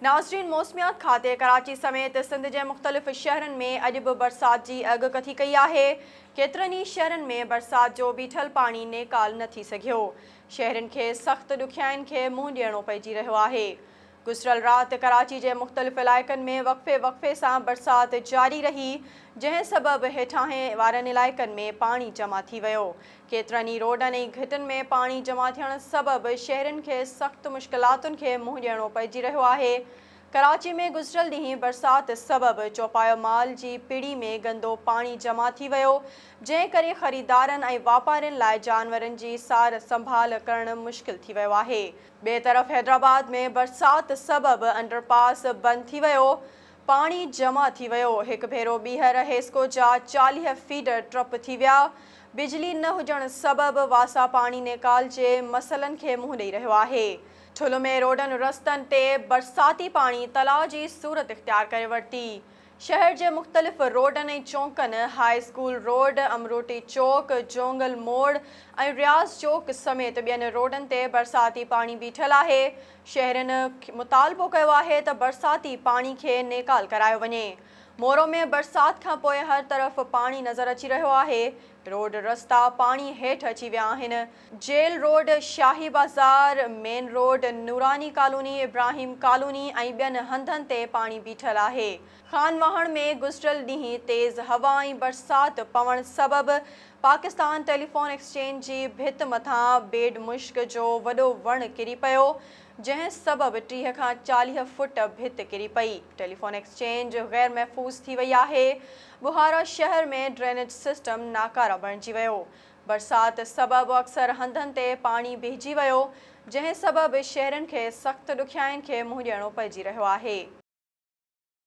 ناظرين موسميات کاتي ڪراچي سميت سنڌ جي مختلف شهرن ۾ اڄ به برسات جي اڳ ڪٿي ڪئي آهي ڪيترن ئي شهرن ۾ برسات جو بيٺل پاڻي نيڪال نه ٿي سگهيو شهرين کي سخت ڏکيائين کي منهن ڏيڻو پئجي رهيو آهي گذريل رات ڪراچي جي مختلف علائقن ۾ وقفي وقفي سان برسات جاري رهي جنهن سبب هيٺاهين وارن علائقن ۾ پاڻي جمع ٿي ويو ڪيترن ئي روڊن ۽ گهٽن ۾ پاڻي جمع ٿيڻ سبب شهرين کي سخت مشڪلاتن کي منهن ڏيڻو پئجي رهيو آهي. ڪراچي ۾ گذريل ڏينهن برسات سبب چوپايو مال جي پڙي ۾ گندو پاڻي جمع ٿي ويو، جنهن ڪري خريدارن ۽ واپارين لاء جانورن جي سار سنڀال ڪرڻ مشڪل ٿي ويو آهي. ٻئي طرف حيدرآباد ۾ برسات سبب انڊرپاس بند ٿي ويو، پاڻي جمع ٿي ويو، هڪ ڀيرو ٻيهر هيسڪو جا چاليهه فيڊ ٽرپ ٿي ويا، بجلي نه هجڻ سبب واسا پاڻي نيڪال جي مسئلن کي منهن ڏئي رهيو آهي، ٺل ۾ روڊن رستن تي برساتي پاڻي تلاء جي صورت اختيار ڪري ورتي، شهر جي مختلف روڊن ۽ چونڪن هاء اسڪول روڊ، امروٽي چوڪ، جونگل موڙ ۽ رياض چوڪ سميت ٻين روڊن تي برساتي پاڻي بيٺل آهي، شهرين مطالبو ڪيو آهي ته برساتي پاڻي کي نيڪال ڪرايو وڃي، مورو ۾ برسات کان پوء هر طرف پاڻي نظر اچي رهيو آهي، روڊ رستا پاڻي هيٺ اچي ويا آهن، جيل روڊ، شاهي بازار، main road, Noorani colony, Ibrahim colony ۽ ٻين هنڌن تي پاڻي بيٺل آهي. خان واهڻ ۾ گذريل ڏينهن تيز هوا ۽ برسات پوڻ سبب پاڪستان ٽيليفون ايڪسچينج جي ڀت مٿان بيڊ مشڪ جو وڏو وڻ ڪري پيو جنهن سبب ٽيهه کان چاليهه فوٽ ڀت ڪري پئي ٽيليفون ايڪسچينج غير محفوظ ٿي وئي آهي ٻهارا شهر ۾ ڊرينيج سسٽم ناڪاره بڻجي ويو برسات سبب اڪثر هنڌن تي پاڻي بيهجي ويو جنهن سبب شهرين کي سخت ڏکيائين کي منهن ڏيڻو پئجي رهيو آهي.